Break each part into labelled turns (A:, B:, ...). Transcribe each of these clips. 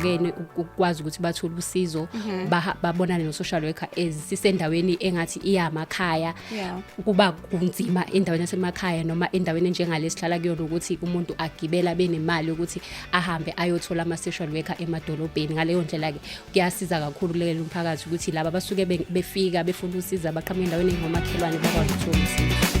A: bahlukene ukwazi ukuthi bathole usizo mhm. babonane no social worker ezisendaweni engathi iyamakhaya kuba kunzima endaweni yasemakhaya noma endaweni enjengale sihlala kuyona ukuthi umuntu agibela benemali ukuthi ahambe ayothola ama-social worker emadolobheni ngaleyo ndlela-ke kuyasiza kakhulu kulekelela umphakathi ukuthi laba basuke befika befuna usiza baqhamuka endaweni engomakhelwane bakwazi ukuthola usizo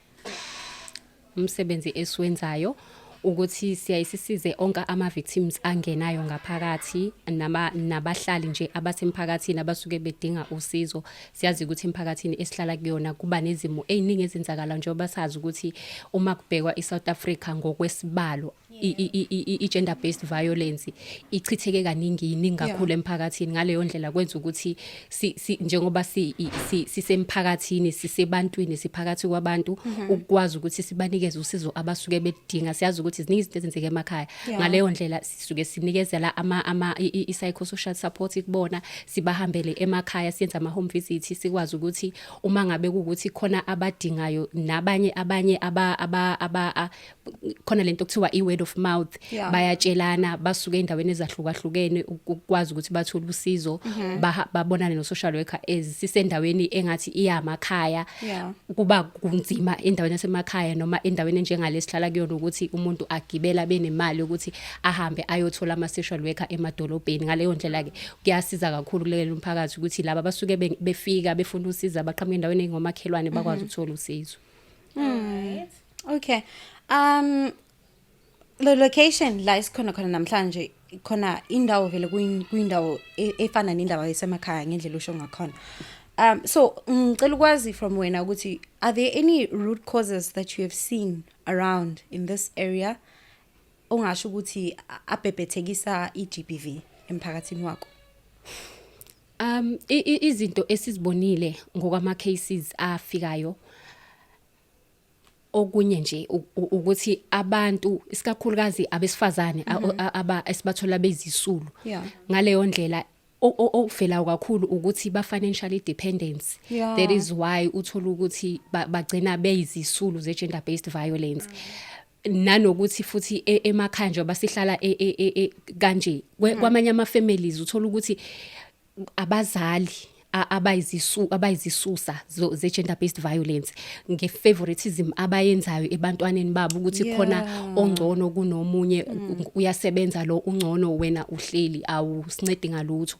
A: umsebenzi esiwenzayo ukuthi siyaye sisize onke ama-victims angenayo ngaphakathi nabahlali nje abasemphakathini abasuke bedinga usizo siyazi ukuthi emphakathini esihlala kuyona kuba nezimo ey'ningi ezenzakala njengoba sazi ukuthi uma kubhekwa i-south africa ngokwesibalo i-gender based violence ichitheke kaningi yiningi kakhulu emphakathini ngaleyo ndlela kwenza ukuthi njengoba sisemphakathini sisebantwini siphakathi kwabantu mhm. ukwazi ukuthi sibanikeze usizo abasuke bedinga siyazi ukuthi ziningi izinto ezenzeka emakhaya ngaleyo ndlela sisuke sinikezela ama ama i-psychosocial support kubona sibahambele emakhaya siyenza ama home visit sikwazi ukuthi uma ngabe ukuthi khona abadingayo nabanye abanye aba aba khona lento kuthiwa i-word of mouth yeah. bayatshelana basuke endaweni ezahlukahlukene ukwazi ukuthi bathole usizo mm -hmm. babonane no social worker ezisendaweni engathi iyamakhaya yeah. kuba kunzima endaweni yasemakhaya noma endaweni njengale sihlala kuyona ukuthi umuntu agibela benemali ukuthi ahambe ayothola ama social worker emadolobheni ngaleyo ndlela ke kuyasiza kakhulu kulelo mphakathi ukuthi laba basuke befika befuna usiza baqhamuka endaweni engomakhelwane bakwazi mhm. ukuthola usizo mm. right.
B: Okay.
C: Um the location la isikhona khona namhlanje khona indawo vele kuyi- kuyindawo e- efana nendawo esemakhaya ngendlela usho ngakhona. Um so ngicela ukwazi from wena ukuthi are there any root causes that you have seen around in this area ongasho ukuthi a- abhebhethekisa iGBV emphakathini wakho? Um
A: i- i- izinto esizibonile ngokwama cases afikayo okunye nje ukuthi abantu isikakhulukazi abesifazane mhm. aba esibathola bezisulu ngaleyo ndlela okuvelayo kakhulu ukuthi ba financially dependent yeah. that is why uthola ukuthi bagcina beyizisulu ze gender based violence mm. nanokuthi futhi e, emakhaya nje basihlala e, e, kanje mm. kwamanye ama families uthola ukuthi abazali abayizisu abayizisusa ze gender based violence nge favoritism abayenzayo ebantwaneni babo ukuthi khona ongcono kunomunye mm. uyasebenza lo ungcono wena uhleli awusincedi ngalutho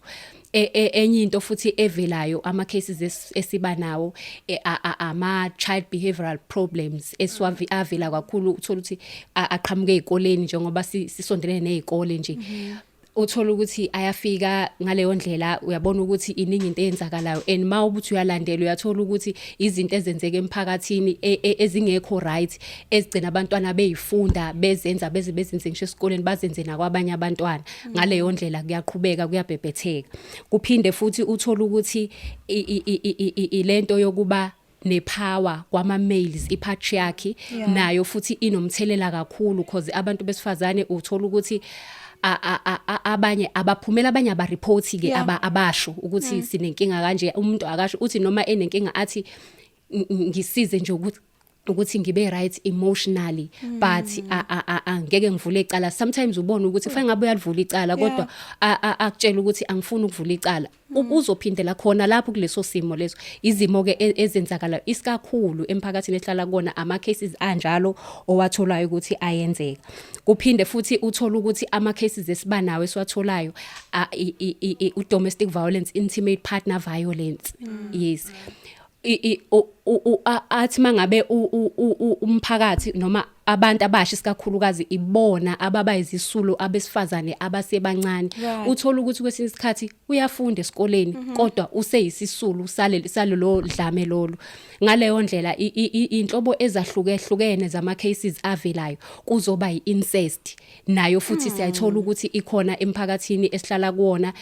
A: e, e, enye into futhi evelayo ama cases esiba nawo e, ama child behavioral problems esiwavi mm. avela kakhulu uthola ukuthi aqhamuke ezikoleni njengoba sisondelene nezikole nje mm-hmm. uthola ukuthi ayafika ngaleyo ndlela uyabona ukuthi iningi into eyenzakalayo and ma ubuthi uyalandela uyathola ukuthi izinto ezenzeka emphakathini e, e, ezingekho right ezigcina abantwana beyifunda bezenza beze bezenze ngisho esikoleni bazenze nakwabanye abantwana ngaleyo ndlela kuyaqhubeka kuyabhebhetheka kuphinde futhi uthola ukuthi ilento yokuba nepower kwama males ipatriarchy yeah. nayo futhi inomthelela kakhulu because abantu besifazane uthola ukuthi abanye abaphumela abanye aba report ke aba abasho ukuthi mm. sinenkinga kanje umuntu akasho uthi noma enenkinga athi ngisize nje ukuthi ukuthi ngibe right emotionally mm. but angeke ngivule icala sometimes ubona ukuthi kufanele ngabe uyalivula icala kodwa akutshela ukuthi angifuni ukuvula icala uzophindela khona lapho kuleso simo leso izimo ke e, ezenzakala isikakhulu emphakathini ehlala kona ama cases anjalo owatholayo ukuthi ayenzeka kuphinde futhi uthola ukuthi ama cases esibanawo esiwatholayo u domestic violence intimate partner violence mm. yes athi mangabe umphakathi noma abantu abasha isikakhulukazi ibona ababa izisulu abesifazane abasebancane uthola ukuthi kwesinye isikhathi uyafunda esikoleni mhm. kodwa useyisisulu saleli salelo dlame lolu ngaleyo ndlela inhlobo ezahlukehlukene zama cases avelayo kuzoba yiincest nayo futhi siyayithola ukuthi ikhona emphakathini esihlala kuwona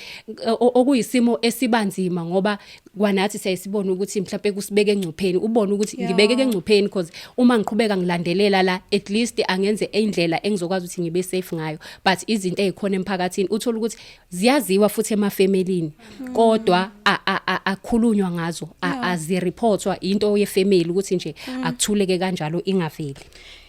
A: o- okuyisimo esibanzima ngoba kwanathi siyayisibona ukuthi mhlawumbe kusibeke engcupheni ubone ukuthi Yeah. ngibeke engcupheni because uma ngiqhubeka ngilandelela la at least angenze indlela engizokwazi ukuthi ngibe safe ngayo but izinto ezikhona emphakathini uthola ukuthi ziyaziwa futhi emafemelini kodwa a- a- a- akhulunywa ngazo a- azireportwa into yefamily ukuthi nje akuthuleke kanjalo ingaveli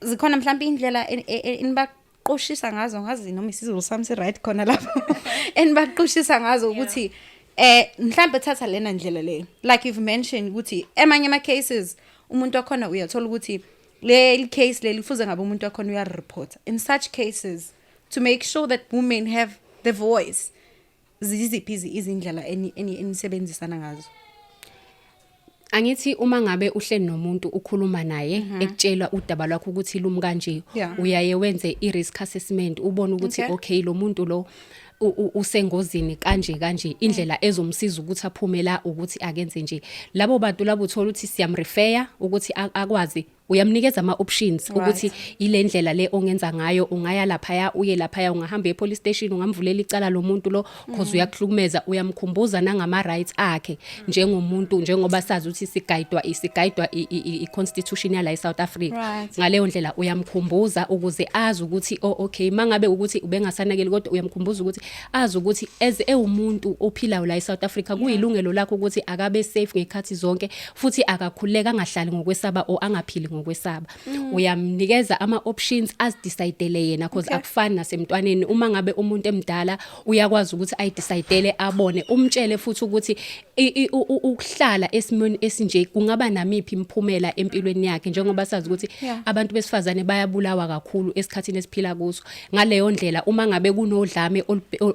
C: zikhona mhlawumbe indlela enibaqushisa ngazo ngazi noma isizulu sami si right khona lapho enibaqushisa ngazo ukuthi eh mhlawumbe thatha lena ndlela le like you've mentioned ukuthi emanye ama cases umuntu wakhona uyathola ukuthi leli case leli kufuze ngabe umuntu wakhona uya report in such cases to make sure that women have the voice ziziphi izindlela enisebenzisana ngazo angithi
A: uma ngabe uhleli nomuntu ukhuluma naye mhm. ekutshela udaba lwakho ukuthi lumi kanje uyaye wenze i risk assessment ubone ukuthi okay lo muntu lo usengozini kanje kanje indlela mm. ezomsiza ukuthi aphume la ukuthi akenze nje labo bantu labo uthola ukuthi siyamrefer ukuthi akwazi uyamnikeza ama options right. ukuthi ilendlela le ongenza ngayo ungaya lapha ya uye lapha ya ungahamba e police station ungamvulela icala lomuntu lo cause mm. uyakuhlukumeza uyamkhumbuza nangama rights akhe mm. njengomuntu njengoba sazi ukuthi sigayidwa isigayidwa i constitution yala e South Africa right. ngaleyo ndlela uyamkhumbuza ukuze azi ukuthi oh okay mangabe ukuthi ubengasanakeli kodwa uyamkhumbuza ukuthi azi ukuthi as ewumuntu ophilayo la e South Africa kuyilungelo lakho ukuthi akabe safe ngekhathi zonke futhi akakhululeka angahlali ngokwesaba or angaphili ngokwesaba mm. uyamnikeza ama options azidecidele yena because okay. akufani nasemntwaneni uma ngabe umuntu emdala uyakwazi ukuthi ayidecidele abone umtshele futhi ukuthi ukuhlala esimweni esinje kungaba namiphi imphumela empilweni yakhe njengoba sazi ukuthi yeah. abantu besifazane bayabulawa kakhulu esikhathini esiphila kuso ngaleyo ndlela uma ngabe kunodlame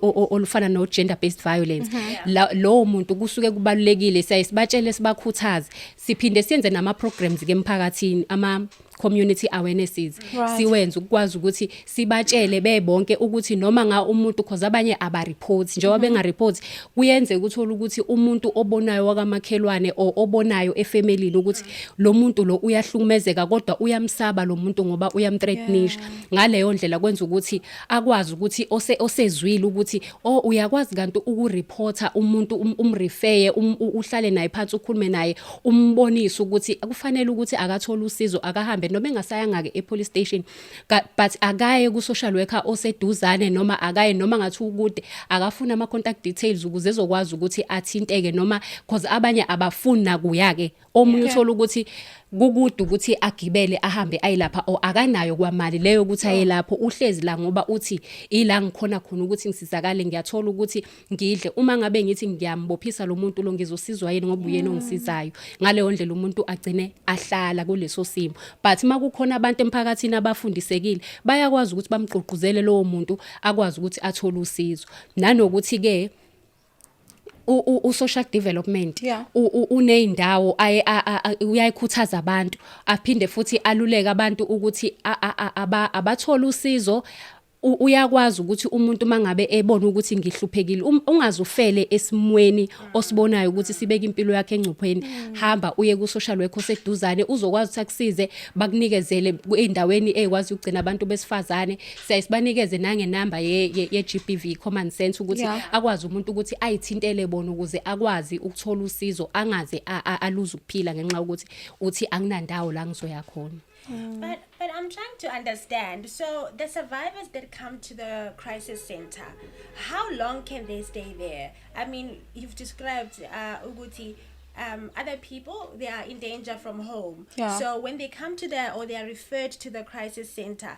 A: olufana no gender based violence mhm. lowo muntu kusuke kubalulekile siyaye sibatshele sibakhuthaze siphinde siyenze nama programs ke emphakathini ama community awarenesses right. siwenze ukwazi ukuthi sibatshele bebonke ukuthi noma nga umuntu cause abanye aba reports njengoba mm -hmm. benga reports kuyenze ukuthola ukuthi umuntu obonayo wakamakhelwane obonayo efamily ukuthi lo muntu lo uyahlukumezeka kodwa uyamsaba lo muntu ngoba uyamthreatnisha yeah. ngaleyo ndlela kwenza ukuthi akwazi ukuthi ose osezwile ukuthi oh uyakwazi kanti ukureporter umuntu um, umrefeye um, uhlale naye phansi ukhulume naye umbonise ukuthi kufanele ukuthi akathola usizo akahambe noma engasayanga ke epolice station but akaye ku social worker oseduzane noma akaye noma ngathi ukude akafuna ama contact details ukuze ezokwazi ukuthi athinteke noma because abanye abafuni nakuyake omunye Yeah. uthola ukuthi kukude ukuthi agibele ahambe ayilapha o akanayo kwamali leyo ukuthi aye lapho uhlezi la ngoba uthi ila ngikhona khona ukuthi ngisizakale ngiyathola ukuthi ngidle uma ngabe ngithi ngiyambophisa lo muntu lo ngizosizwa yini ngoba uyena ongisizayo ngaleyo ndlela umuntu agcine ahlala kuleso simo but uma kukhona abantu emphakathini abafundisekile bayakwazi ukuthi bamgqugquzele lowo muntu akwazi ukuthi athole usizo nanokuthi-ke u-social development yeah. uney'ndawo aye uyayikhuthaza abantu aphinde futhi aluleke abantu ukuthi abathole usizo uyakwazi ukuthi umuntu mangabe ebona ukuthi ngihluphekile um, ungazufele esimweni osibonayo ukuthi sibeke impilo yakhe engcupheni mm. hamba uye ku social worker oseduzane uzokwazi ukuthi akusize bakunikezele endaweni ekwazi ukugcina abantu besifazane siyaye sibanikeze nangenamba ye-GBV ye, ye common sense ukuthi yeah. akwazi umuntu ukuthi ayithintele bona ukuze akwazi ukuthola usizo angaze aluze ukuphila ngenxa yokuthi uthi anginandawo la ngizoya khona mm. But, but I'm
B: trying to understand. So the survivors that come to the crisis center, how long can they stay there? I mean, you've described uh, Uguti um, other people they are in danger from home yeah. so when they come to the or they are referred to the crisis center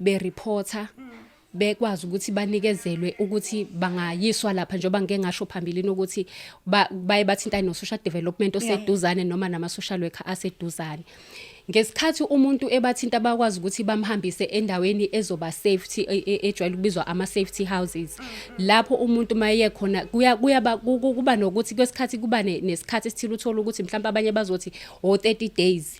A: be reporter bekwazi ukuthi banikezelwe ukuthi bangayiswa lapha njengoba ngike ngasho phambilini ukuthi baye bathintane no-social development oseduzane noma nama-social worker aseduzane ngesikhathi umuntu ebathinta bakwazi ukuthi bamhambise endaweni ezoba safety e, e, ejwayele ukubizwa ama safety houses lapho umuntu maye khona kuya kuyaba kuba nokuthi kwesikhathi kuba nesikhathi esithile uthola ukuthi mhlawumbe abanye bazothi o 30 days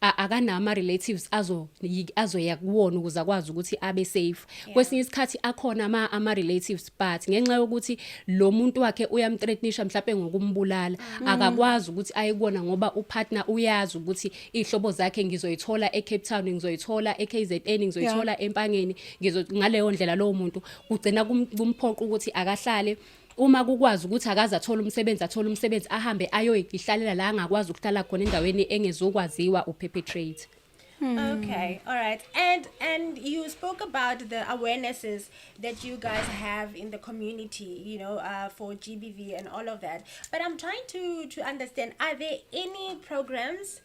A: a- akanawo ama-relatives azo- yi- azoya kuwona ukuze akwazi ukuthi abe safe kwesinye isikhathi akhona ama- ama-relatives but ngenxa yokuthi lo muntu wakhe uyamtretnisha mhlawumpe ngokumbulala akakwazi ukuthi aye kuwona ngoba upartner uyazi ukuthi iy'hlobo zakhe ngizoyithola e-cape town ngizoyithola e-k z n ngizoyithola empangeni ngizo- ngaleyo ndlela lowo muntu kugcina kum- kumphoqa ukuthi akahlale uma kukwazi ukuthi akaze athole umsebenzi athole umsebenzi ahambe ayoyihlalela la angakwazi ukuhlala khona endaweni engezokwaziwa uperpetrate Hmm. Okay,
B: all right. And and you spoke about the awarenesses that you guys have in the community, you know, uh, for GBV and all of that. But I'm trying to to understand: Are there any programs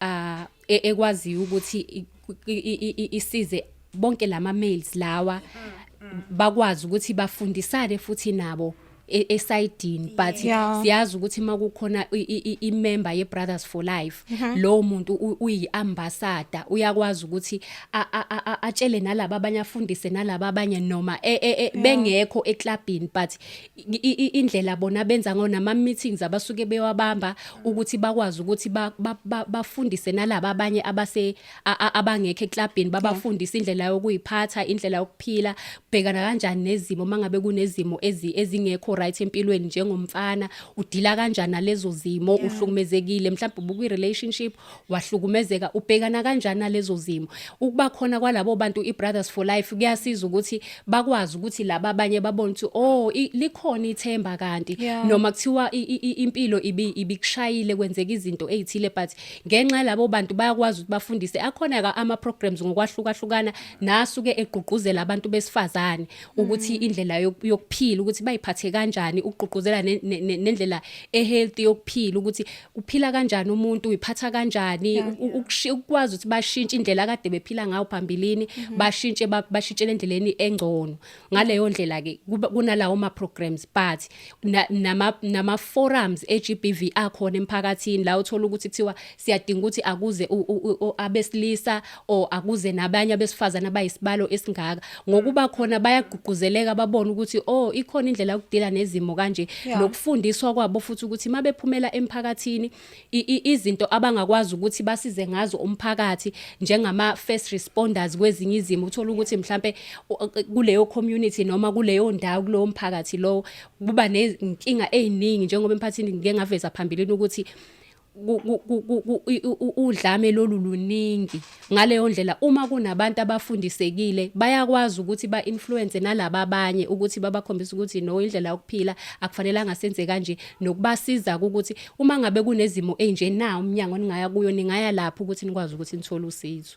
A: ah e- ekwaziyo ukuthi i- i- i- i- isize bonke lama males lawa bakwazi ukuthi bafundisane futhi nabo e- esidini but Yeah. siyazi ukuthi makukhona i- i- i- imember ye brothers for life lowo muntu u- uyi ambassador uyakwazi ukuthi a- a- a- a- atshele nalabo abanye afundise nalabo abanye noma e- e- e- bengekho eclubini but indlela bona benza ngayo nama meetings abasuke bewabamba ukuthi bakwazi ukuthi bafundise nalabo abanye abase abangekho eclubini babafundise indlela yokuyiphatha indlela yokuphila bhekana kanjani nezimo mangabe kunezimo ezingekho right empilweni njengomfana udila kanjani nalezo zimo uhlukumezekile mhlawumbe ubukwi relationship wahlukumezeka ubhekana kanjani nalezo zimo ukuba khona kwalabo bantu iBrothers for Life kuyasiza ukuthi bakwazi ukuthi laba abanye babone ukuthi oh likhona ithemba kanti yeah. noma kuthiwa impilo ibi ibikushayile kwenzeka izinto ezithile but ngenxa labo bantu bayakwazi ukuthi bafundise akhona ka ama programs ngokwahlukahlukana nasuke egqugquzela abantu besifazane ukuthi mm. indlela yokuphila ukuthi bayiphathe kanjani ukugqugquzela nendlela ehealthy yokuphila ukuthi uphila kanjani umuntu uyiphatha kanjani yeah, yeah. ukwazi ukuthi bashintshe indlela kade bephila ngayo phambilini mm -hmm. bashintshe bashintshele endleleni engcono ngaleyo ndlela ke kunalawo ma programs but nama nama forums eGBV akhona emphakathini la uthola ukuthi kuthiwa siyadinga ukuthi akuze abesilisa or akuze nabanye abesifazane abayisibalo esingaka ngokuba khona bayagqugquzeleka babone ukuthi oh ikhona indlela yokudila nezimo kanje nokufundiswa kwabo futhi ukuthi mabephumela emphakathini izinto abangakwazi ukuthi basize ngazo umphakathi njengama first responders kwezinye izimo uthola ukuthi mhlambe kuleyo community noma kuleyo ndawo kulowo mphakathi lowo kuba nezinkinga eziningi njengoba emphathini ngike ngaveza phambilini ukuthi udlame lolu luningi ngaleyo ndlela uma kunabantu abafundisekile bayakwazi ukuthi ba influence nalabo abanye ukuthi babakhombise ukuthi no indlela yokuphila akufanelanga senze kanje nokubasiza ukuthi uma ngabe kunezimo enje na umnyango ningaya kuyo ningaya lapho ukuthi nikwazi ukuthi nithole usizo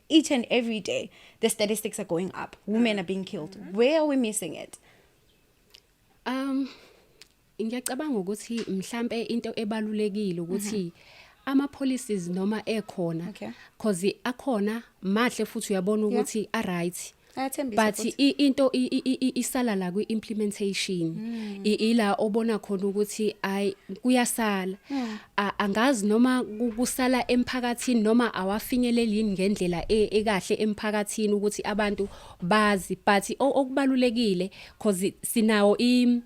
C: each and every day the statistics are going up women are being killed mm-hmm. where are we missing it um
A: ngiyacabanga ukuthi mhlambe into ebalulekile ukuthi mm -hmm. ama policies noma ekhona okay. cause akhona mahle futhi uyabona ukuthi yeah. a right ayathembisa but futhi. i- into i- i- i- i- isala la kwi implementation I- ila obona khona ukuthi ay kuyasala A- angazi noma ku- kusala emphakathini noma awafinyeleli yini ngendlela e- ekahle emphakathini ukuthi abantu bazi but o- okubalulekile cause sinawo i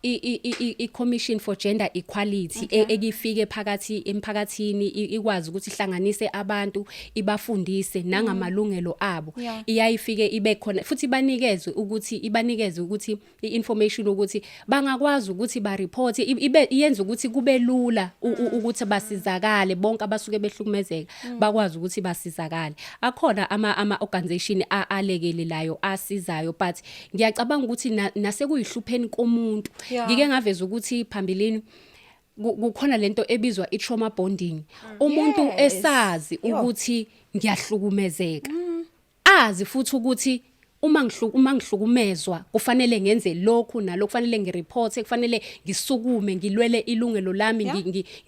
A: i-commission for gender equality e, ekifike phakathi emphakathini ikwazi ukuthi ihlanganise abantu ibafundise mm. nangamalungelo abo iyayifike ibe khona futhi banikezwe ukuthi ibanikeze ukuthi i-information ukuthi bangakwazi ukuthi ba report ibe yenza ukuthi kube lula mm. ukuthi basizakale bonke abasuke behlukumezeka mm. bakwazi ukuthi basizakale akhona ama ama organization alekelelayo asizayo but ngiyacabanga ukuthi nasekuyihlupheni komuntu ngike ngaveza ukuthi phambilini kukhona lento ebizwa i-trauma bonding mm. umuntu esazi ukuthi ngiyahlukumezeka mm. azi futhi ukuthi uma ngihluku uma ngihlukumezwa kufanele ngenze lokhu nalokho kufanele ngireporte kufanele ngisukume ngilwele ilungelo lami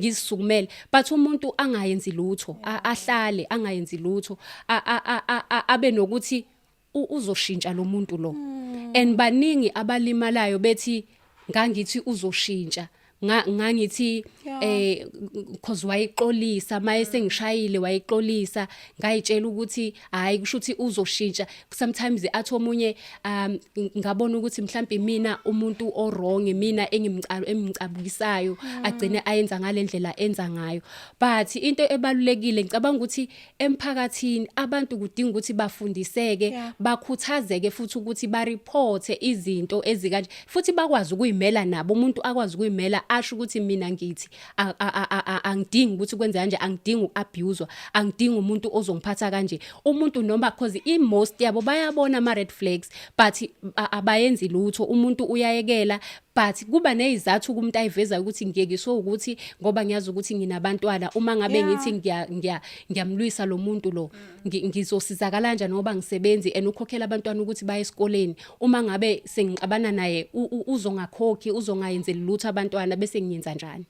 A: ngisukumele but umuntu angayenzi lutho ahlale angayenzi lutho abe nokuthi uzoshintsha lo muntu lo hmm. and baningi abalimalayo bethi ngangithi uzoshintsha ngangithi eh cause wayixolisa maye sengishayile wayixolisa ngayitshela ukuthi hayi kusho ukuthi uzoshintsha sometimes athi omunye um ngabona ukuthi mhlawumbe mina umuntu o wrong mina engimcalo emncabukisayo mm. agcine ayenza ngalendlela enza ngayo but into ebalulekile ngicabanga ukuthi emphakathini abantu kudinga ukuthi bafundiseke yeah. bakhuthazeke futhi ukuthi bareporte izinto ezikanje futhi bakwazi ukuyimela nabo umuntu akwazi ukuyimela asho ukuthi mina ngithi angidingi ukuthi kwenze kanje angidingi ukuabuswa angidingi umuntu ozongiphatha kanje umuntu noma cause i most yabo bayabona ama red flags but abayenzi lutho umuntu uyayekela but kuba nezizathu kumuntu ayivezayo ukuthi ngiyekiswe ukuthi ngoba ngiyazi ukuthi nginabantwana uma ngabe ngithi ngiya ngiya ngiyamlwisa lo muntu lo ngizosizakala kanjani ngoba ngisebenzi and ukhokhela abantwana ukuthi baye esikoleni uma ngabe sengixabana naye uzongakhokhi uzongayenzeli lutho abantwana bese ngiyenza njani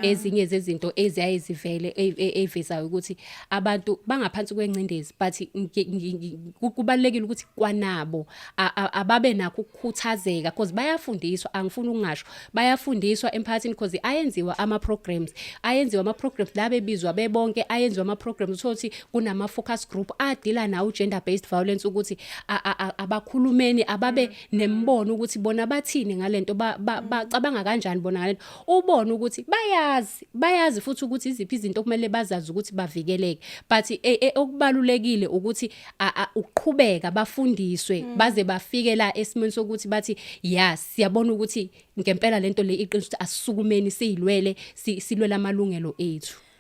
A: ezinye zezinto eziyaye zivele e- e- evezayo ukuthi abantu bangaphansi kwengcindezi but ngi- ngi- ngi- ku- kubalulekile ukuthi kwanabo a- a- ababe nakho ukukhuthazeka because bayafundiswa angifuni ukungasho bayafundiswa emphakathini because ayenziwa ama-programs ayenziwa ama-programs la bebizwa bebonke ayenziwa ama-programs uthole ukuthi kunama-focus group adila nawo u-gender based violence ukuthi a- a- a- abakhulumeni ababe nemibono ukuthi bona bathini ngale nto ba- ba- bacabanga kanjani bona ngale nto ubone ukuthi bayazi bayazi futhi ukuthi iziphi izinto kumele bazazi ukuthi bavikeleke but e, e, okubalulekile ukuthi uqhubeka bafundiswe mm. baze bafike la esimweni sokuthi bathi ya siyabona ukuthi ngempela lento le iqiniso ukuthi asisukumeni siyilwele silwela amalungelo ethu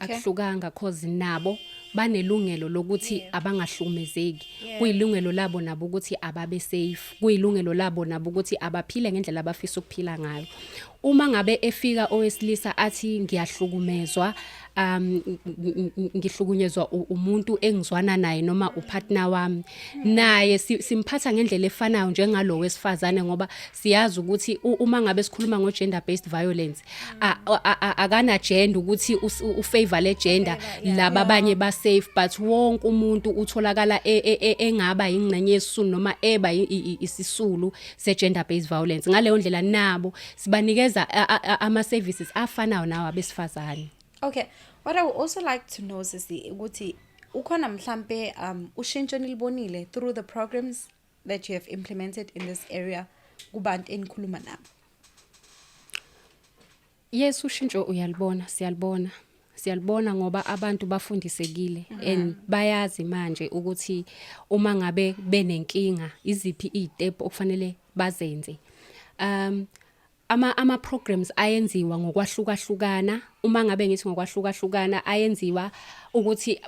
A: akuhlukanga cause nabo banelungelo lokuthi abangahlukumezeki kuyilungelo labo nabo ukuthi ababe safe kuyilungelo labo nabo ukuthi abaphile ngendlela abafisa ukuphila ngayo uma ngabe efika owesilisa athi ngiyahlukumezwa um ngihlukunyezwa umuntu engizwana naye noma upartner wami naye simphatha ngendlela efanayo njengalowo wesifazane ngoba siyazi ukuthi uma ngabe sikhuluma ngo gender based violence akana gender ukuthi u favor le gender laba abanye ba safe but wonke umuntu utholakala e, e, e, engaba ingcenye yesisulu noma eba isisulu se gender based violence ngaleyo ndlela nabo sibanikeza ama services afanayo nawo abesifazane okay
C: what i would also like to know is ukuthi ukhona mhlambe um ushintsho nilibonile through the programs that you have implemented in this area kubantu enikhuluma nabo
A: yes ushintsho uyalibona siyalibona siyalibona ngoba abantu bafundisekile mm -hmm. and bayazi manje ukuthi uma ngabe benenkinga iziphi izitep okufanele bazenze um ama ama programs ayenziwa ngokwahlukahlukana uma ngabe ngithi ngokwahlukahlukana ayenziwa ukuthi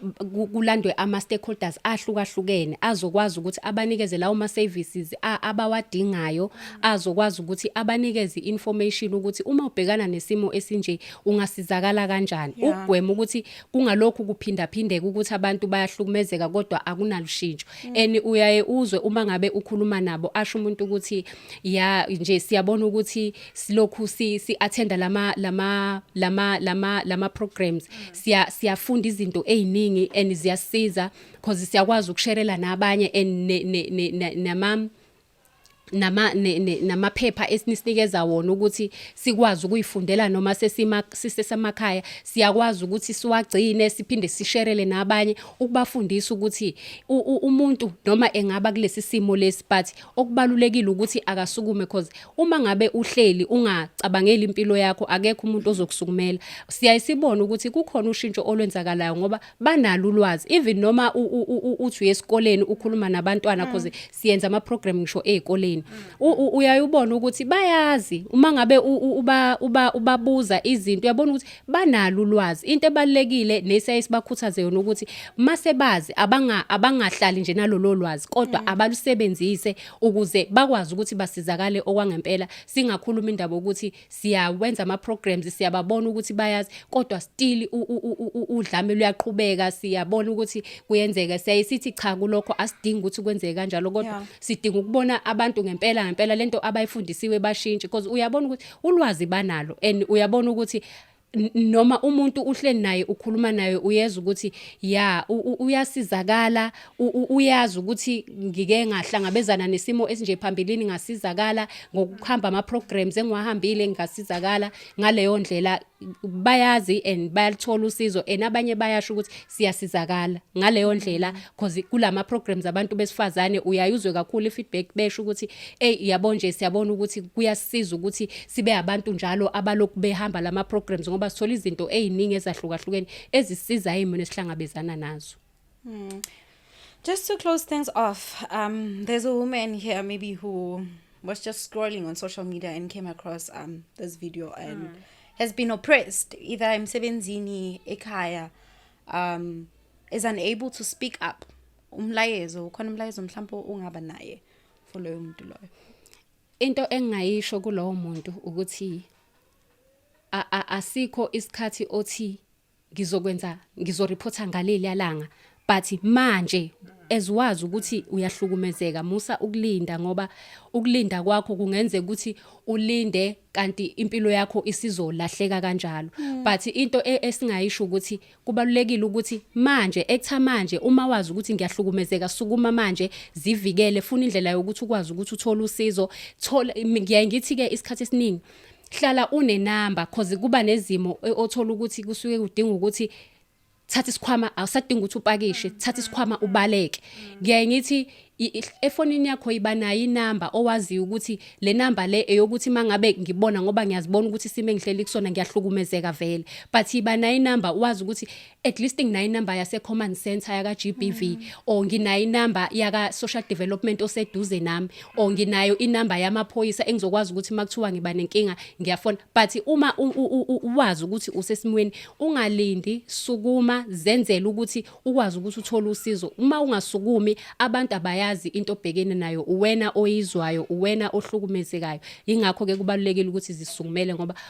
A: kulandwe ama stakeholders ahlukahlukene azokwazi ukuthi abanikeze lawo ma services abawadingayo azokwazi ukuthi abanikeze information ukuthi uma ubhekana nesimo esinje ungasizakala kanjani ukugwema ukuthi kungalokhu kuphinda phindeka ukuthi abantu bayahlukumezeka kodwa akunalushintsho mm. and uyaye uzwe uma ngabe ukhuluma nabo asho umuntu ukuthi ya nje siyabona ukuthi silokhu si, si attenda lama lama lama lama lama programs siya siyafunda izinto eziningi and ziyasiza because siyakwazi ukusherela nabanye and ne, ne, ne, ne, nama nama namaphepha esininikeza wona ukuthi sikwazi ukuyifundela noma sesima sisesamakhaya siyakwazi ukuthi siwagcine siphinde sisherele nabanye ukubafundisa ukuthi umuntu noma engaba kulesi simo lesi but okubalulekile ukuthi akasukume cause uma ngabe uhleli ungacabangeli impilo yakho akekho umuntu ozokusukumela siyayisibona ukuthi kukhona ushintsho olwenzakalayo ngoba banalo ulwazi even noma uthi uyesikoleni ukhuluma nabantwana mm. cause siyenza ama program ngisho ezikoleni uyayubona ukuthi bayazi uma ngabe uba uba ubabuza izinto uyabona ukuthi banalo ulwazi into ebalekile nesiyaye sibakhuthaze yona ukuthi mase bazi abanga abangahlali nje nalolo lwazi kodwa mm. abalusebenzise ukuze bakwazi ukuthi basizakale okwangempela singakhuluma indaba ukuthi siyawenza ama programs siyababona ukuthi bayazi kodwa still udlame luyaqhubeka siyabona ukuthi kuyenzeka siyaye sithi cha kulokho asidingi ukuthi kwenzeke kanjalo kodwa sidinga ukubona abantu ngempela ngempela lento abayifundisiwe bashintshe because uyabona ukuthi ulwazi banalo and uyabona ukuthi noma umuntu uhleli naye ukhuluma naye uyeza ukuthi ya uyasizakala uyazi ukuthi ngike ngahlangabezana nesimo esinje phambilini ngasizakala ngokuhamba ama programs engiwahambile ngasizakala ngaleyo ndlela bayazi and bayalithola usizo and abanye bayasho ukuthi siyasizakala ngaleyo ndlela because kulama programs abantu besifazane uyayuzwe kakhulu ifeedback besho ukuthi hey yabo nje siyabona ukuthi kuyasiza ukuthi sibe abantu njalo abalokhu behamba lama programs ngoba sithola izinto eziningi ezahlukahlukene ezisiza imini esihlangabezana nazo mm.
C: Just to close things off, um, there's a woman here maybe who was just scrolling on social media and came across um, this video and mm. has been oppressed. Either I'm Sebenzini, Ekaya, um, is unable to speak up. Umlayezo, ukhona umlayezo mhlawumbe ungaba naye for loyo muntu loyo. Into
A: engingayisho kulowo muntu ukuthi asikho isikhathi othi ngizokwenza ngizoreporta ngaleliya langa but manje as wazi ukuthi uyahlukumezeka musa ukulinda ngoba ukulinda kwakho kungenzeka ukuthi ulinde kanti impilo yakho isizolahleka kanjalo mm. but into e, esingayisho ukuthi kubalulekile ukuthi manje ektha manje uma wazi ukuthi ngiyahlukumezeka sukuma manje zivikele funa indlela yokuthi ukwazi ukuthi uthole usizo thola ngiyaye ngithi ke isikhathi esiningi hlala une number cause kuba nezimo e, othola ukuthi kusuke kudinga ukuthi thatha isikhwama awusadinga ukuthi upakishe thatha isikhwama ubaleke ngiyaye ngithi efonini yakho iba nayo inamba owaziyo ukuthi le namba le eyokuthi mangabe ngibona ngoba ngiyazibona ukuthi isimo engihleli kusona ngiyahlukumezeka vele but iba nayo inamba wazi ukuthi at least nginayo inamba yase command center yaka GBV mm. or nginayo inamba yaka social development oseduze nami or nginayo inamba yamaphoyisa engizokwazi ukuthi makuthiwa ngiba nenkinga ngiyafona but uma uwazi ukuthi usesimweni ungalindi sukuma zenzele ukuthi ukwazi ukuthi uthole usizo uma ungasukumi abantu abayazi into obhekene nayo uwena oyizwayo uwena ohlukumezekayo ingakho ke kubalulekile ukuthi zisukumele ngoba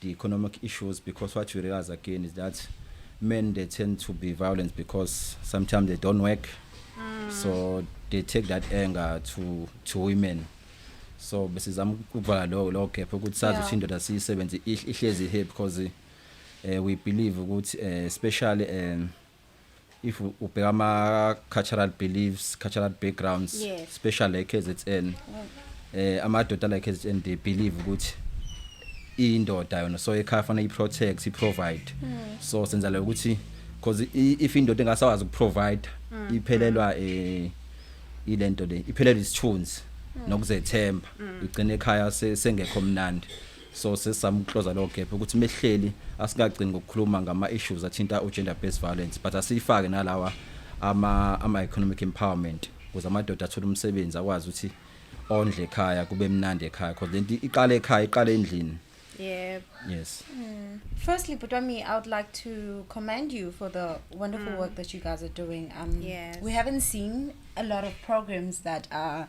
D: the economic issues because what you realize again is that men they tend to be violent because sometimes they don't work mm. so they take that anger to to women so besizama ukuvala lo lo gap ukuthi sazi ukuthi indoda siyisebenze ihlezi here because uh, we believe ukuthi uh, especially um if ubheka ama cultural beliefs cultural backgrounds yes. special like KZN mm. eh amadoda like KZN they believe ukuthi indoda yona so ekhaya fanele iprotect iprovide mm. so senza le ukuthi because if indoda engasawazi ukuprovide mm. iphelelwa eh ilento le iphelelwa isithunzi mm. nokuzethemba mm. igcine ekhaya sengekho mnandi so sesamclosa lo gap ukuthi mehleli asingagcini ngokukhuluma ngama issues athinta u gender based violence but asifake nalawa ama ama economic empowerment ukuze amadoda athole umsebenzi akwazi ukuthi ondle ekhaya kube mnandi ekhaya because lento iqala ekhaya iqala endlini Yep.
B: Yes. Mm.
D: Firstly,
C: Putwami, I would like to commend you for the wonderful mm. work that you guys are doing. Um, yes. We haven't
B: seen
C: a lot of programs that are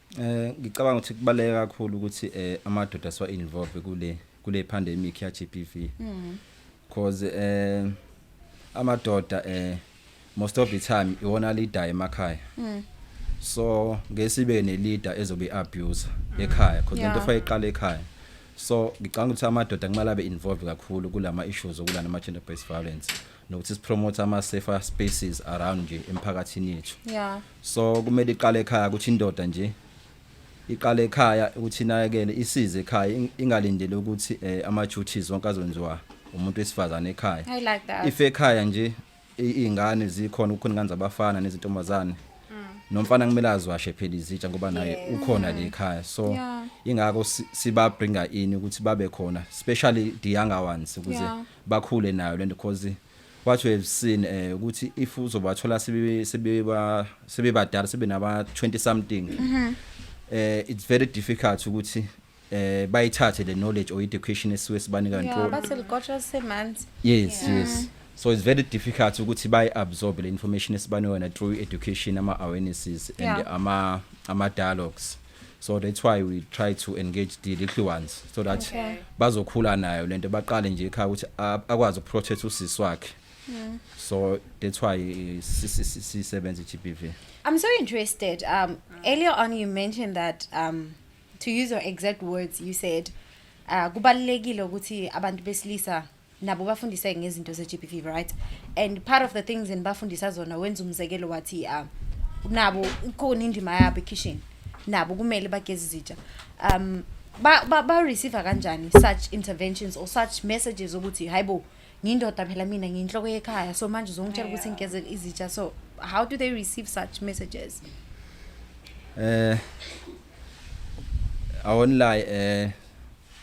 C: Eh
D: ngicabanga ukuthi kubaleke kakhulu ukuthi eh amadoda siwa involve kule kule pandemic ya GBV. Mhm. Because eh amadoda eh most of the time iwona leader emakhaya. Mhm. So ngesibe ne leader ezobe abuse ekhaya because lento fa iqala ekhaya. So ngicabanga ukuthi amadoda kumele abe involved kakhulu kulama issues okulana ama gender based violence nokuthi sipromote ama safer spaces around nje emphakathini yethu. Yeah. so kumele iqale ekhaya ukuthi indoda nje iqale ekhaya ukuthi inakekele isize ekhaya ing- ingalindele ukuthi eh, ama duties wonke azonziwa umuntu wesifazane ekhaya I like that. if ekhaya
C: nje
D: i- iy'ngane zikhona kukhona ingane zabafana nezintombazane nomfana kumele aziwashe phela izitsha ngoba naye Mm. Yes. ukhona le ekhaya so Yeah. ingakho si- sibabringa ini ukuthi babe khona especially the younger ones ukuze Yeah. bakhule nayo lento because What we have seen eh ukuthi if uzobathola sebe sebeba sebebadala sebe naba 20 something mhm. eh it's very difficult ukuthi eh bayithathe le knowledge or education esiwe sibanika nto yeah bathi ligotshwa
C: semanzi yes yeah. yes
D: so it's very difficult ukuthi bayi absorb le information esibanika yona through education ama awarenesses and yeah. ama ama dialogues so that's why we try to engage the little ones so that okay. bazokhula nayo lento baqale nje ekhaya ukuthi akwazi ukuprotect usisi wakhe mm. so that's why sisebenza i-GBV I'm so interested
C: um earlier on you mentioned that um to use your exact words you said uh kubalekile ukuthi abantu besilisa nabo bafundiseke ngezinto ze-gbv right and part of the things enibafundisa zona wenza umzekelo wathi um nabo ikhona indima yabo ekhishini nabo kumele bageze izitsha um ba-receive ba, ba kanjani such interventions or such messages ukuthi hayi bo ngiyindoda phela mina ngiyinhloko yekhaya so manje uzongitshela ukuthi ngigeze izitsha so how do they receive such messages
D: eh awonlayi eh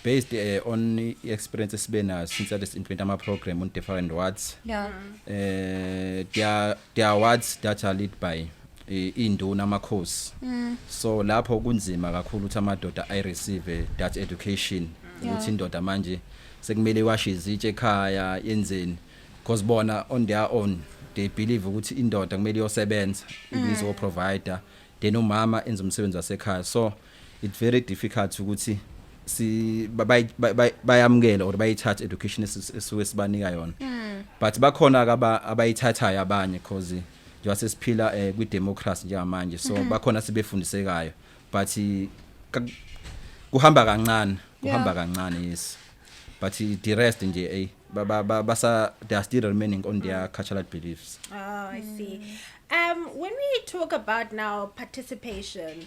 D: based uh, on i-experience esibe nayo since ade si-implement ama-program on different wards yeah. uh,
C: there,
D: there are wards that are lead by iy'nduna amakhosi mm. so lapho kunzima kakhulu ukuthi amadoda i-receive that education ukuthi indoda manje sekumele iwashe izitshe ekhaya yenzeni because bona on their own they believe ukuthi indoda kumele iyosebenza mm. izoprovider then umama enza umsebenzi wasekhaya so It's very difficult ukuthi si bayamukele or bayithathe education esuke sibanika yona hmm. but bakhona ke abayithathayo abanye because njengoba sesiphila eh, kwi democracy njengamanje so hmm. bakhona sibefundisekayo but kuhamba kancane kuhamba kancane yes but the rest nje ey basa they are still remaining on their hmm. cultural beliefs oh i
B: see um when we talk about now participation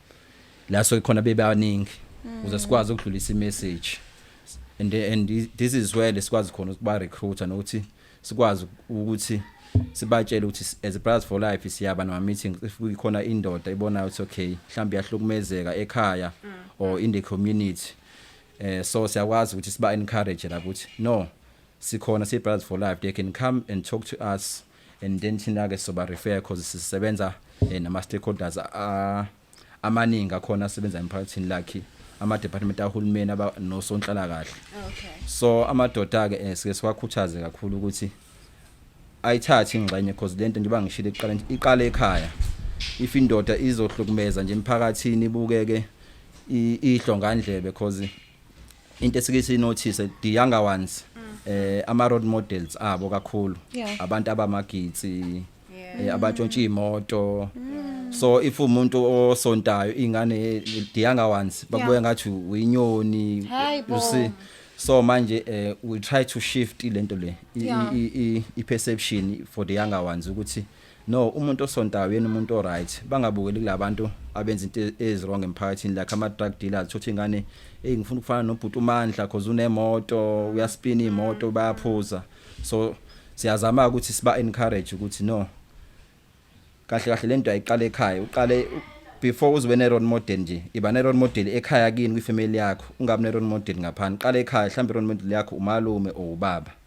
D: la so khona bebaningi mm. uze sikwazi ukudlulisa imessage and and this is where lesikwazi khona ukuba recruiter nokuthi sikwazi ukuthi sibatshele ukuthi as brothers for life siyaba nama meetings if kuyikhona indoda ibonayo ukuthi okay mhlawumbe yahlukumezeka ekhaya mm. or in the community eh so siyakwazi ukuthi siba encourage la ukuthi no sikhona si brothers for life they can come and talk to us and then thina ke soba refer because sisebenza eh, nama stakeholders ah, amaningi akhona asebenza emphakathini lakhe ama department ahulumeni aba nosonhlala kahle okay so
B: amadoda
D: ke eh, sike siwakhuthaze kakhulu ukuthi ayithathe ingxenye because lento njengoba ngishilo iqala iqala ekhaya if indoda izohlukumeza nje emphakathini ibukeke i- ihlongandlebe because into esike sinothise the younger ones eh ama road models abo kakhulu Yeah. abantu abamagitsi eh, abatshontsha imoto so if umuntu osontayo ingane the younger ones bakubuya Yeah. ngathi uyinyoni Hayi bo. you see so manje eh we try to shift lento le i- Yeah. i- i- i perception for the younger ones ukuthi No umuntu osontayo yena umuntu oright bangabukeli kulabantu abenza into eziwrong emphakathini like ama drug dealers thothi ingane hey ngifuna ukufana nobhuti uMandla cause unemoto uyaspina imoto bayaphuza so siyazama ukuthi siba encourage ukuthi no kahle kahle lento ayiqale ekhaya uqale before uzobe ne role model nje iba ne role model ekhaya kini kwi family yakho ungabi ne role model ngaphandle qale ekhaya mhlawumbe role model yakho umalume or ubaba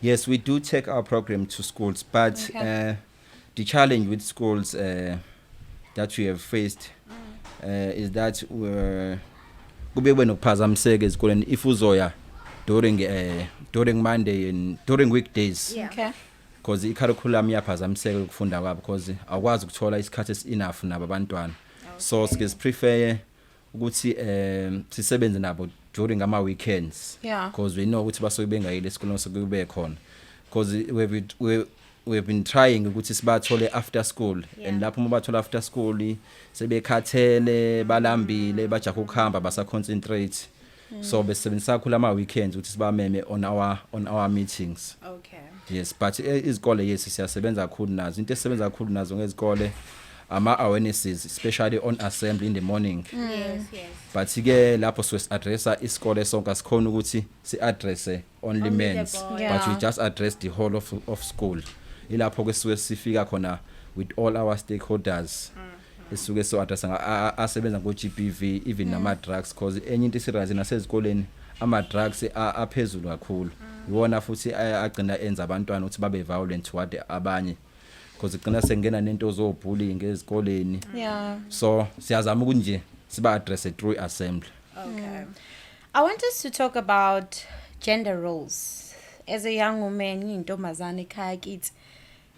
B: Yes,
D: we do take our program to schools, but okay. uh, the challenge with schools uh, that we have faced uh, is that uh, kube kube nokuphazamiseka ezikoleni if uzoya during uh, during Monday and during weekdays. Yeah. Okay.
B: Because
C: i-curriculum
D: iyaphazamiseka ukufunda kwabo because awukwazi ukuthola isikhathi esi-enough nabo abantwana. Okay. So sike siprefere ukuthi eh sisebenze nabo during ama weekends Yeah. because we know ukuthi
C: basuke
D: bengayile esikoleni so kube khona because we have been- we we have been trying ukuthi sibathole after school Yeah. and lapho uma bathola after school sebekhathele balambile bajaha ukuhamba basa concentrate Mm. So besebenzisa kakhulu ama weekends ukuthi sibameme on our on our meetings. Okay. Yes,
B: but eh,
D: izikole yes siyasebenza kakhulu nazo. Into esebenza kakhulu nazo ngezikole ama awarenesses especially on assembly in the morning. Mm. Yes, yes.
B: But ke
D: lapho siwe addressa isikole sonke asikhona ukuthi si addresse only men's yeah. but we just
B: address the
C: whole
D: of, of school ilapho ke siwe sifika khona with all our stakeholders mm. esuke so address asebenza ngo GBV even mm. nama drugs because enye into isirazi nasezikoleni ama drugs aphezulu kakhulu mm. iwona futhi agcina enza abantwana ukuthi babe violent toward abanye because igcina sengena nento zo bullying ezikoleni yeah so
C: siyazama
D: ukuthi nje siba address through assembly okay
B: mm. I want
C: us to talk about gender roles. As a young woman, ngiyintombazane ekhaya kithi.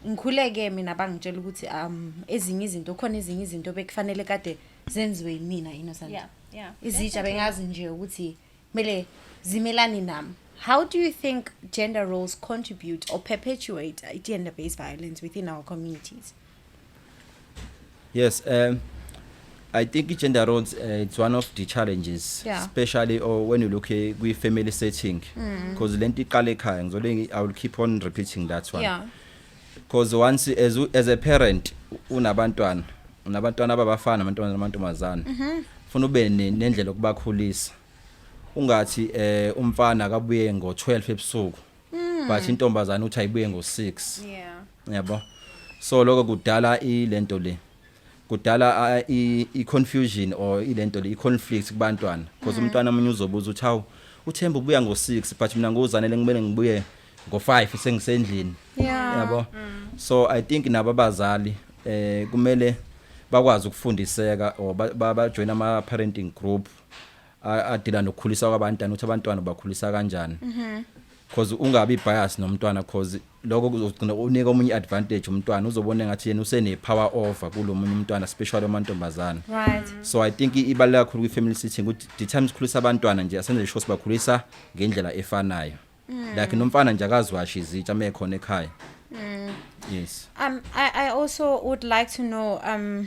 C: Ngikhuleke mina bangitshela ukuthi um ezinye izinto khona ezinye izinto bekufanele kade zenziwe yimina innocent. Yeah, yeah. Izitsha
B: bengazi nje
C: ukuthi kumele zimelane nami. How do you think gender roles contribute or perpetuate gender-based violence within our communities? Yes,
D: um I think gender roles uh, it's one of the challenges yeah. especially or
C: oh, when you look
D: at kwi family setting mm. because mm. lento iqala ekhaya ngizole I will keep on repeating that one. Yeah. Because once as as a parent unabantwana unabantwana ababafana abantwana namantombazana. Mhm. Mm funa ube nendlela okubakhulisa. Ungathi eh umfana akabuye ngo 12 ebusuku. mm. but intombazana uthi ayibuye ngo 6 yeah yabo so lokho kudala ilento le kudala i confusion or ilento le i conflict kubantwana because mm. umntwana omunye uzobuza uthi hawu uthemba ubuya ngo 6 but mina ngozanele ngimele ngibuye ngo 5 sengisendlini yabo mm. so i think nabo abazali eh kumele bakwazi ukufundiseka or bajoin ama parenting group adila nokukhulisa kwabantwana ukuthi abantwana bakhulisa kanjani mhm. cause ungabi bias nomntwana cause lokho kuzogcina unika omunye advantage umntwana uzobona ngathi yena usene power over kulomunye umntwana especially amantombazana right so i
C: think ibaleka
D: kakhulu kwi family sitting ukuthi the time sikhulisa abantwana nje asenze sure sibakhulisa ngendlela efanayo mm. like nomfana nje akazwashi izitsha mekhona ekhaya mm. yes um i
C: i also would like to know um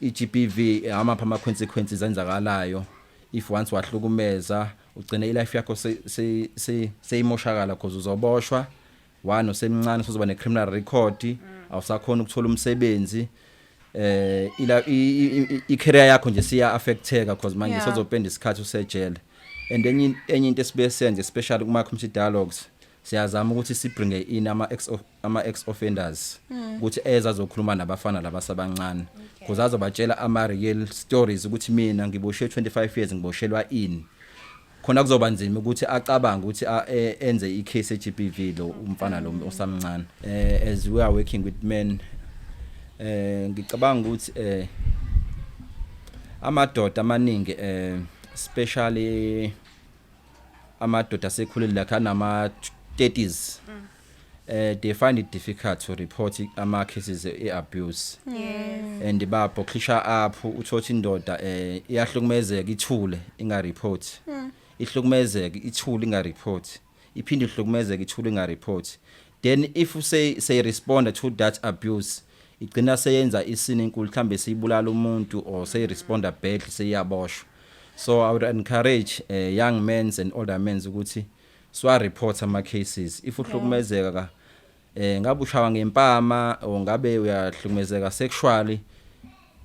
D: iGBV amapha ama consequences enzakalayo if once wahlukumeza ugcine ilife yakho seyimoshakala because uzoboshwa one usemncane usozoba ne criminal record mm. awusakhona ukuthola umsebenzi eh ila i career yakho nje siya affecteka because manje yeah. sozopenda isikhathi usejele and enye enye into esibe senze especially kuma community dialogues siyazama ukuthi sibringe in ama ama ex offenders ukuthi eza zokhuluma nabafana labasabancane because azobatshela ama real stories ukuthi mina ngiboshe 25 years ngiboshelwa ini khona kuzoba nzima ukuthi acabange ukuthi a- e- enze i case eGBV lo umfana lo osamncane eh as we are working with men eh ngicabanga ukuthi eh amadoda amaningi eh especially amadoda asekhulile la kanama 30s eh they find it difficult to report i- ama cases e abuse yes and
B: babo khisha
D: apho uthothi indoda eh iyahlukumezeka ithule inga report ihlukumezeka ithule inga report iphinde ihlukumezeka ithule inga report then if you say say respond to that abuse igcina seyenza isini enkulu mhlambe siyibulala umuntu or say respond badly seyaboshwa so i would encourage uh, young men and older men ukuthi Swa report ama cases if uhlukumezeka ka eh ngabe ushawa ngempama or ngabe uyahlukumezeka sexually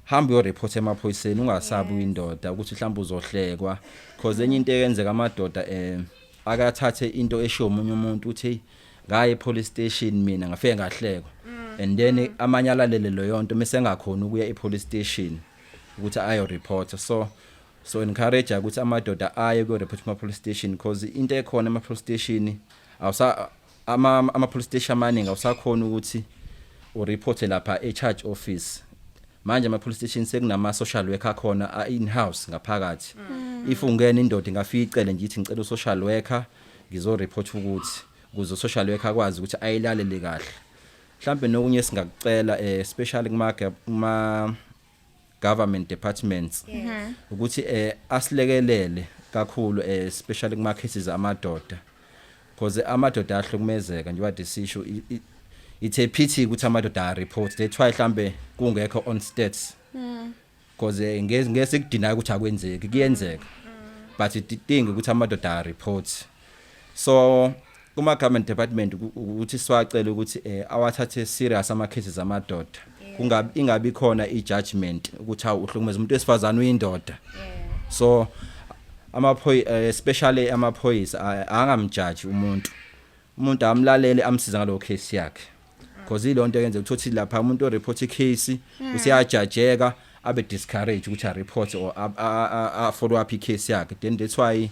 D: hamba uyo report emaphoyiseni ungasabi uyindoda ukuthi mhlawumbe uzohlekwa because enye into eyenzeka amadoda eh akathathe into eshiwo umunye umuntu uthi ngaye police station mina ngafike ngahlekwa mm. and then amanye alalele leyo nto mese engakhona ukuya e police station ukuthi ayo report so so encourage ukuthi amadoda aye ku report ma police station because into ekhona ama police station awusa ama ama police station amaningi awusakhona ukuthi u report lapha e charge office manje ama police station sekunama social worker khona a in house ngaphakathi mm. if ungena indoda ingafika icele ngithi ngicela u social worker ngizo report ukuthi kuzo social worker akwazi ukuthi ayilalele kahle mhlambe nokunye singakucela eh, especially kuma kuma government departments mhm. ukuthi eh asilekelele kakhulu eh especially kuma cases amadoda because amadoda ahlukumezeka njengoba desisho it's a pity ukuthi amadoda a report that's why mhlambe kungekho on stats mm. because eh, ngeke ngeke sikudinayo ukuthi akwenzeki kuyenzeka mm. but idinga ukuthi amadoda a report so kuma government department ukuthi siwacela ukuthi eh awathathe serious ama cases amadoda kungabi ingabi khona i judgment ukuthi hawu uhlukumeza umuntu wesifazana uyindoda so amaphoyi eh, especially amaphoyisa angamjaji umuntu umuntu amlalele amsiza ngalowo case yakhe because ilonto yenze ukuthi lapha umuntu o report icase hmm. usiyajajeka abe discourage ukuthi a report or a follow up icase yakhe then that's why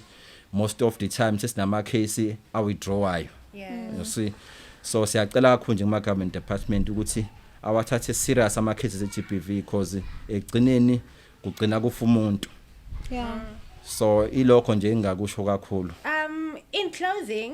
D: most of the time sesinama case a withdrawayo you see so siyacela kakhulu nje kuma government department ukuthi awathathe serious ama cases e GBV because egcineni kugcina kufa umuntu yeah so ilokho nje engakusho kakhulu um in
B: closing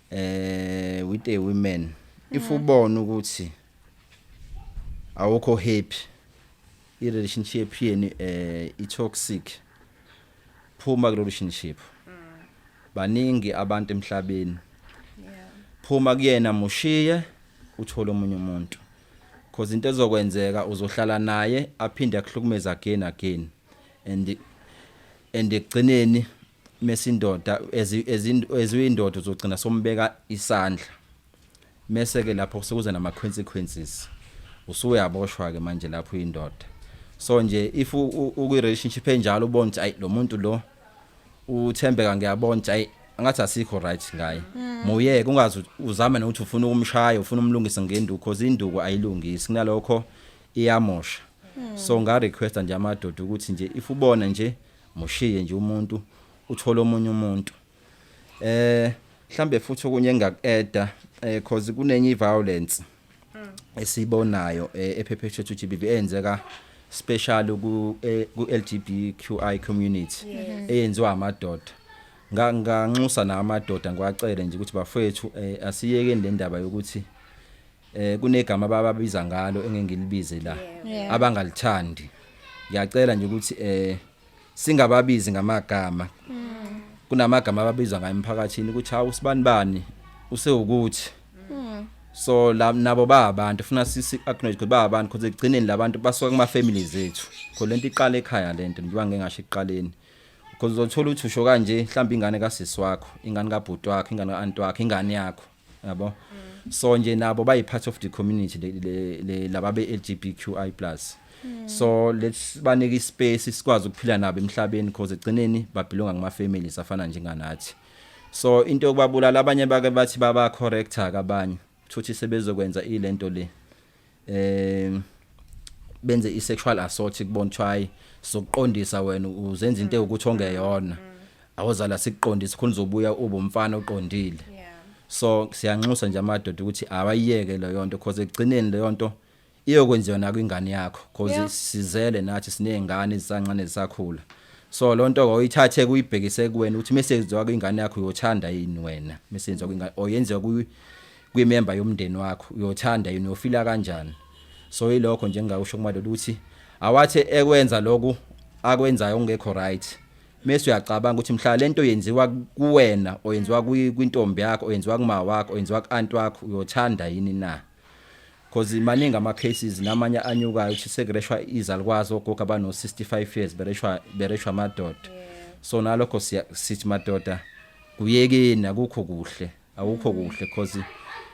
D: eh with a woman if mm. ubona ukuthi awukho happy i relationship yenu eh i toxic phuma ku relationship mm. baningi abantu emhlabeni phuma kuyena mushiye uthole omunye umuntu because into ezokwenzeka uzohlala naye aphinde akuhlukumeza again again and and ekugcineni mesindoda eziyindoda uzogcina sombeka isandla mese ke lapho sekuza nama consequences usuyaboshwa ke manje lapho uyindoda so nje if ukwi relationship enjalo ubona ukuthi ayi lo muntu lo uthembeka ngiyabona ukuthi ayi angathi asikho right ngaye mm. muyeke ungazi uzame nokuthi ufuna ukumshaya ufuna umlungise ngenduku because induku ayilungisi kunalokho iyamosha mm. so nga request nje amadoda ukuthi nje if ubona nje mushiye nje umuntu uthole omunye umuntu eh mhlambe futhi okunye engakueda eh cause kunenye iviolence hmm. esibonayo eh, ephephethe to GBV enzeka special ku eh, ku LGBTQI community eyenziwa amadoda nganxusa namadoda ngiwacele nje ukuthi bafethu eh, asiyeke le ndaba yokuthi Eh kunegama abababiza ngalo engengilibize la. Yeah. Abangalithandi. Ngiyacela nje ukuthi eh singababizi ngamagama. Kunamagama ababizwa ngayo emphakathini ukuthi hawu sibani bani usewukuthi. So la nabo ba abantu funa sisi acknowledge ukuthi ba abantu because ekugcineni labantu basuka kuma families ethu. Kho lento iqala ekhaya lento njengoba ngengasho ekuqaleni. Because uzothola ukuthi usho kanje mhlawumbe ingane kasisi wakho, ingane kabhuti wakho, ingane kaanti wakho, ingane yakho. yabo mm. so nje nabo bayi part of the community le laba be LGBTQI+ mm. so let's banike ispace sikwazi ukuphila nabo emhlabeni because egcineni babelonga kuma families afana njenganathi so into yokubabulala abanye bake bathi baba correcta kabanye futhi sebezokwenza ilento le um benze i-sexual assault kubona kuthiwa hayi sokuqondisa wena uzenza into ewukuthi ongeyona awozala sikuqondise khona uzobuya ube umfana oqondile Yeah. so siyanxusa nje amadoda ukuthi awayiyeke leyo nto because ekugcineni leyo nto iyokwenziwa nakwingane yakho because Yeah. sizele nathi siney'ngane ezisancane zisakhula so loo nto oyithathe kuyibhekise kuwena ukuthi mesenziwa kwingane yakho uyothanda yini wena mesenziwa kwingane or yenziwa kwi- kwimemba yomndeni wakho uyothanda yini uyofila kanjani so yilokho nje engawusho kumadoda ukuthi awathi ekwenza lokhu akwenzayo ongekho right mase uyacabanga ukuthi mhla lento yenziwa kuwena oyenziwa kwintombi yakho oyenziwa kuma wakho oyenziwa kuant wakho uyothanda yini na because maningi ama cases namanye anyukayo ukuthi sekureshwa izalukwazi ogogo abano 65 years bereshwa bereshwa amadoda so nalokho sithi madoda kuyekeni akukho kuhle awukho kuhle cause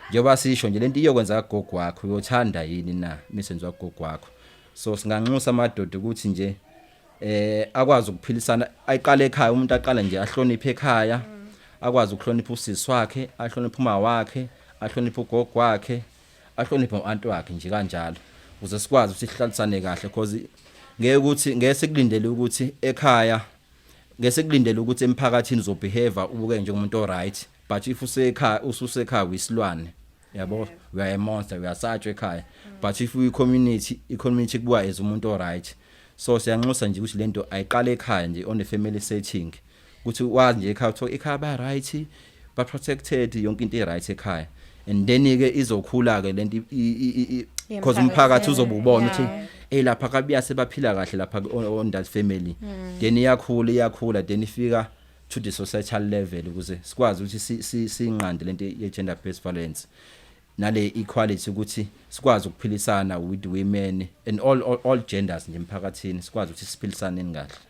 D: njengoba sisho nje lento iyokwenza kagogo wakho uyothanda yini na imisebenzi wagogo wakho so singanxusa amadoda ukuthi nje eh akwazi ukuphilisana ayiqale ekhaya umuntu aqala nje ahloniphe ekhaya akwazi ukuhlonipha usisi wakhe ahloniphe uma wakhe ahloniphe ugogo wakhe ahloniphe uanti wakhe nje kanjalo ukuze sikwazi ukuthi sihlalisane kahle because ngeke ukuthi ngeke sikulindele ukuthi ekhaya ngesekulindele ukuthi emphakathini uzobehave ubuke njengomuntu oright but if usekhaya ususekhaya wisilwane yabo yeah. we are a monster we are such ekhaya mm. but if we community i community kubuka as umuntu oright so siyanxusa nje ukuthi lento ayiqale ekhaya nje on the family setting ukuthi wazi nje ekhaya uthiwa ekhaya ba right ba protected yonke into iright ekhaya and then ke izokhula ke lento because umphakathi uzobubona ukuthi hey lapha kabuya sebaphila kahle lapha on that family hmm. then iyakhula iyakhula then ifika to the societal level ukuze sikwazi ukuthi sinqande lento ye gender based violence nale equality ukuthi sikwazi ukuphilisana with women and all all, all genders nje emphakathini sikwazi ukuthi siphilisane kahle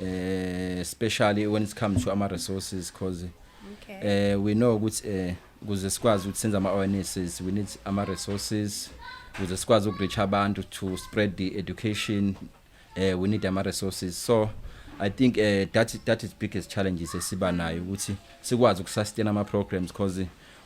D: eh especially when it comes to ama resources because okay. eh we know ukuthi eh kuze sikwazi ukuthi senze ama awarenesses we need ama resources kuze sikwazi ukureach abantu to spread the education eh we need ama resources so I think eh that that is biggest challenges esiba nayo ukuthi sikwazi ukusustain ama programs because